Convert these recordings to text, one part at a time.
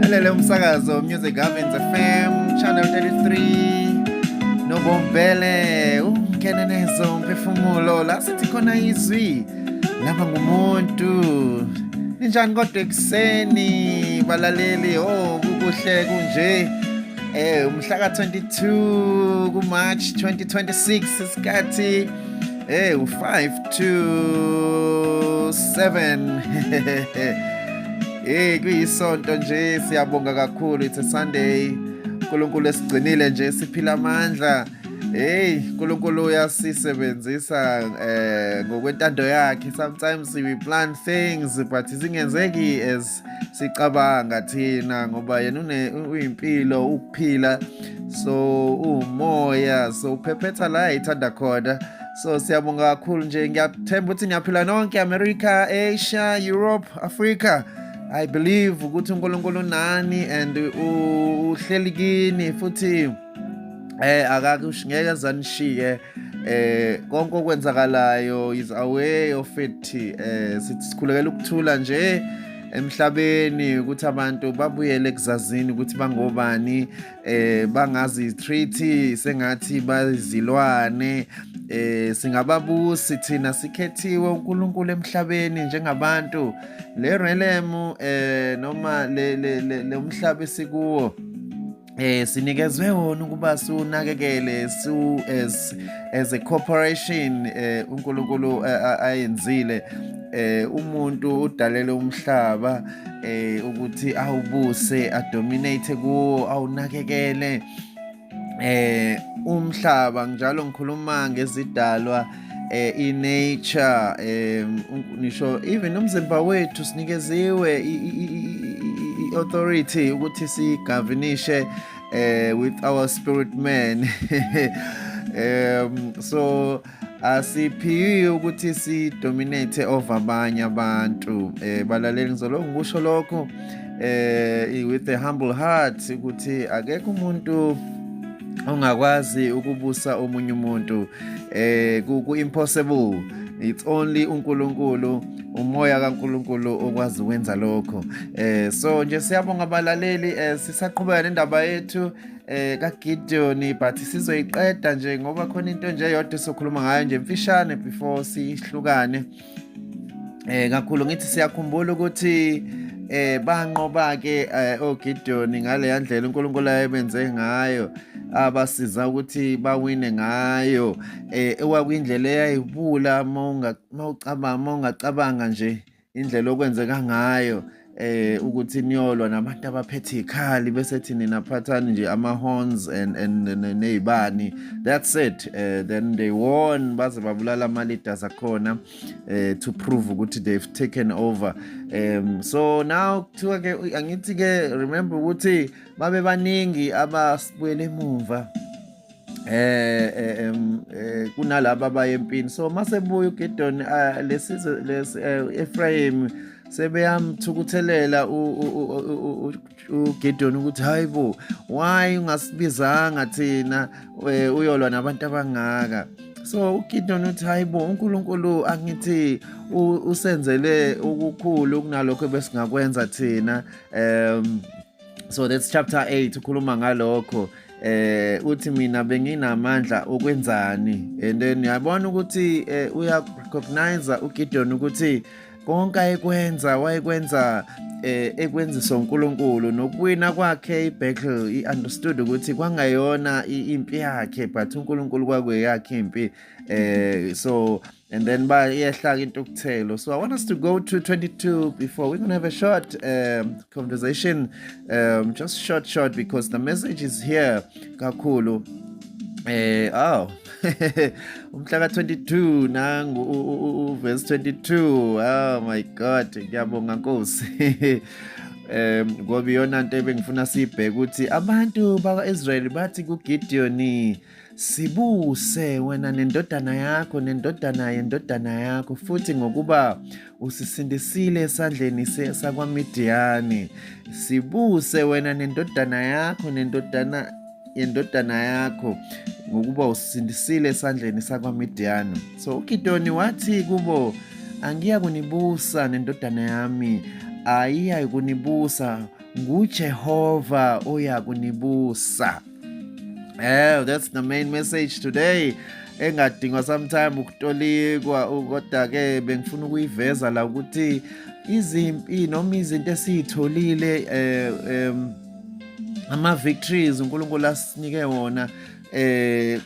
lalele umsakazo music governance fm channel 33 nobombele ungene nezo umphefumulo la sithi khona izwi laba ngumuntu ninjani kodwa ekuseni balaleli o oh, kukuhle kunje eh umhlaka 22 kuMarch 2026 isikhathi eh u5 to 7 Hey kuyisonto nje siyabonga kakhulu it's a Sunday. uNkulunkulu esigcinile nje siphila amandla. Hey uNkulunkulu uyasisebenzisa eh ngokwentando yakhe sometimes we plan things but zingenzeki as sicabanga thina ngoba yena une uyimpilo ukuphila so umoya so uphephetha la ithanda khona so siyabonga kakhulu nje ngiyathemba ukuthi niyaphila nonke america asia europe africa i believe ukuthi unkulunkulu nani and uhleli kini futhi eh akakusho ngeke zanishiye eh konke okwenzakalayo is away of it eh sithi sikhulekela ukuthula nje emhlabeni ukuthi abantu babuyele ekuzazini ukuthi bangobani eh bangazi treaty sengathi bazilwane eh singababusi thina sikhethiwe uNkulunkulu emhlabeni njengabantu le realm eh noma le le umhlaba esikuwo eh sinikezwe wona ukuba sunakekele su as as a corporation eh uNkulunkulu eh, ayenzile eh umuntu udalele umhlaba eh ukuthi awubuse adominate kuwo awunakekele eh umhlaba njalo ngikhuluma ngezidalwa eh inature eh nisho even umzimba wethu sinikeziwe authority ukuthi sigavinishe eh with our spirit man um so asiphiwi ukuthi sidominate over abanye abantu eh balaleli ngizolokhu ngikusho lokho eh with a humble heart ukuthi akekho umuntu ongakwazi ukubusa omunye umuntu eh ku impossible it's only uNkulunkulu umoya kaNkuluNkulu okwazi ukwenza lokho eh so nje siyabonga abalaleli eh sisaqhubeka nendaba yethu eh kaGideon but sizoyiqeda nje ngoba khona into nje yodwa sokhuluma ngayo nje mfishane before sihlukane eh kakhulu ngithi siyakhumbula ukuthi eh banqoba ke eh, oGideon ngale yandlela uNkulunkulu ayebenze ngayo abasiza ukuthi bawine ngayo eh ewakwindlela eyayibula mawungacabanga mawungacabanga nje indlela okwenzeka ngayo eh ukuthi niyolwa nabantu abaphethe ikhali bese thini naphathani nje ama horns and and nezibani that's it uh, then they won baze babulala ama leaders akhona uh, to prove ukuthi they've taken over um so now kuthiwa ke angithi ke remember ukuthi babe baningi abasibuyele emuva eh, eh, eh kunalaba bayempini so masebuya uGidon ah, lesizwe lesi eh, Ephraim sebeyamthukuthelela uGidon ukuthi hayibo why ungasibizanga thina eh, uyolwa nabantu abangaka so uGidon uthi hayibo uNkulunkulu angithi usenzele ukukhulu kunalokho besingakwenza thina um so that's chapter 8 ukhuluma ngalokho eh uthi mina benginamandla okwenzani and then yabona ukuthi eh, uya recognize uGideon ukuthi konke ayekwenza wayekwenza eh ekwenziswa uNkulunkulu nokuwina kwakhe iBethel iunderstood ukuthi kwangayona impi yakhe but uNkulunkulu kwakuyakhe impi eh so and then by iyehla into okuthelo so i want us to go to 22 before we're gonna have a short um, conversation um, just short short because the message is here kakhulu eh aw umhla ka 22 nangu uverse 22 oh my god ngiyabonga nkosi um ngoba iyona nto ebengifuna siyibheke ukuthi abantu bakwa-israyeli bathi kugidiyoni Sibuse wena nendodana yakho nendodana yendodana yakho futhi ngokuba usisindisile esandleni sakwaMidiyani. Sibuse wena nendodana yakho nendodana yendodana yakho ngokuba usisindisile esandleni sakwaMidiyani. So uGidoni wathi kubo, angiya kunibusa nendodana yami, ayiya kunibusa nguJehova oya kunibusa. Eh, that's the main message today. engadingwa sometime ukutolikwa kodwa ke bengifuna ukuyiveza la ukuthi izimpi noma izinto esizitholile eh um ama victories uNkulunkulu asinike wona eh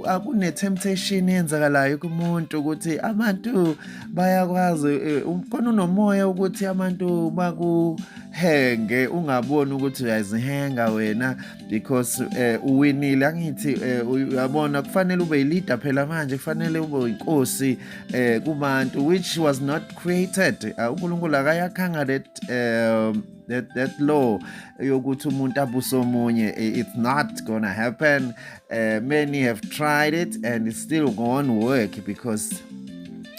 akune temptation eyenzakalayo kumuntu ukuthi abantu bayakwazi eh, khona unomoya ukuthi abantu baku henge ungaboni ukuthi uyazihenga wena because eh, uwinile angithi eh, uyabona kufanele ube leader phela manje kufanele ube inkosi eh, kubantu which was not created ah, uNkulunkulu akayakhanga that um that that law yokuthi umuntu abuse omunye it's not gonna happen Uh, many have tried it and it still won't work because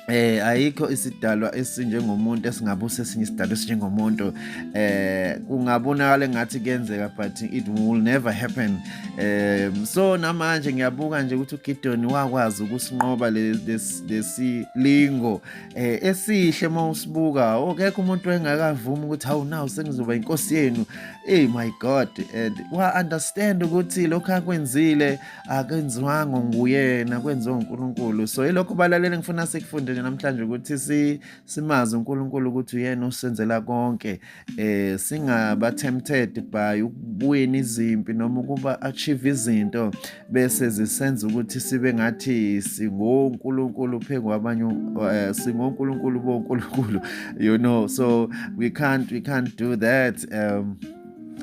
eh ayikho isidalwa esinjengomuntu esingabusa esinye isidalwa esinjengomuntu eh kungabonakala ngathi kuyenzeka but it will never happen eh so namanje ngiyabuka nje ukuthi uGidon wakwazi ukusinqoba lesilingo eh esihle uma usibuka okekho umuntu engakavumi ukuthi hawu nawu sengizoba inkosi yenu Hey my God and wa understand ukuthi lokho akwenzile akenziwanga nguyena kwenziwa uNkulunkulu so ilokho balalele ngifuna sikufunde nje namhlanje ukuthi si simazi uNkulunkulu ukuthi uyena osenzela konke eh singaba tempted by ukubuya izimpi noma ukuba achieve izinto bese zisenza ukuthi sibe ngathi singonkulunkulu phezu kwabanye eh, singonkulunkulu bonkulunkulu you know so we can't we can't do that um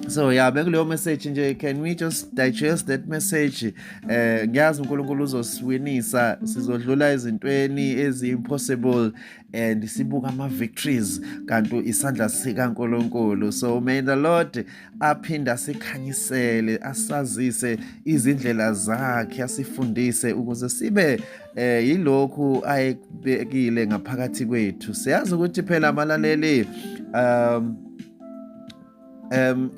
so ya bekuleyo message nje can we just digest that message eh ngiyazi uNkulunkulu uzosiwinisa sizodlula ezintweni ezi impossible and sibuka ama victories kanti isandla sika uNkulunkulu so may the lord aphinde asikhanyisele asazise izindlela zakhe asifundise ukuze sibe eh yilokhu ayekubekile ngaphakathi kwethu siyazi ukuthi phela abalaleli um um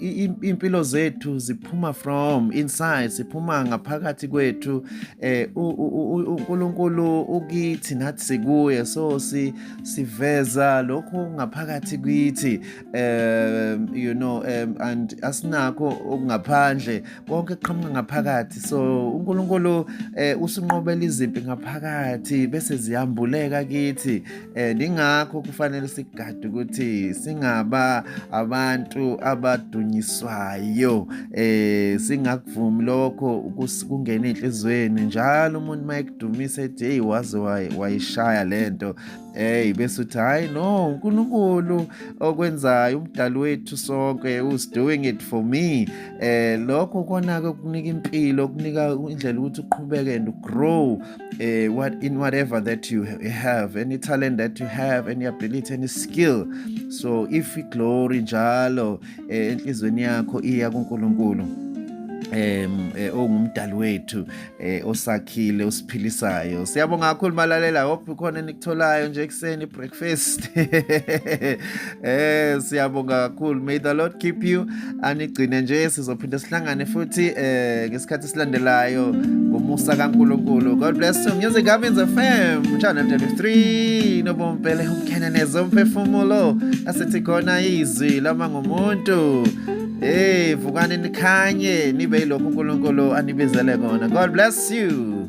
impilo zethu ziphuma from inside siphuma ngaphakathi kwethu eh uNkulunkulu ukithi nathi sikuye so si siveza lokho ngaphakathi kithi um you know um and asinakho okungaphandle konke kuqhamuka ngaphakathi so uNkulunkulu eh, usinqobela izimpi ngaphakathi bese ziyambuleka kithi and eh, ingakho kufanele sigade ukuthi singaba abantu abadunyiswayo eh singakuvumi lokho kungena enhlizweni njalo umuntu mayekudumisa ethi hey waze wayishaya lento hey bese uthi hayi no uNkulunkulu okwenzayo umdali wethu sonke who's doing it for me eh lokho kona ke kunika impilo kunika indlela ukuthi uqhubeke and grow uh, what in whatever that you have any talent that you have any ability any skill so if iglory njalo eh, enhlizweni yakho iya kuNkulunkulu em eh, ongumdali wethu osakhile usiphilisayo siyabonga kakhulu malalela hope ukhona enikutholayo nje ekseni breakfast eh siyabonga kakhulu may the lord keep you anigcine nje sizophinde sihlangane futhi eh ngesikhathi silandelayo ngomusa kaNkulunkulu God bless you music Gavins FM channel 23 nobompele umkhenenezo umphefumulo asithi khona izwi lama ngomuntu hey vukani nikhanye nibe yilokho uNkulunkulu anibizele kona God bless you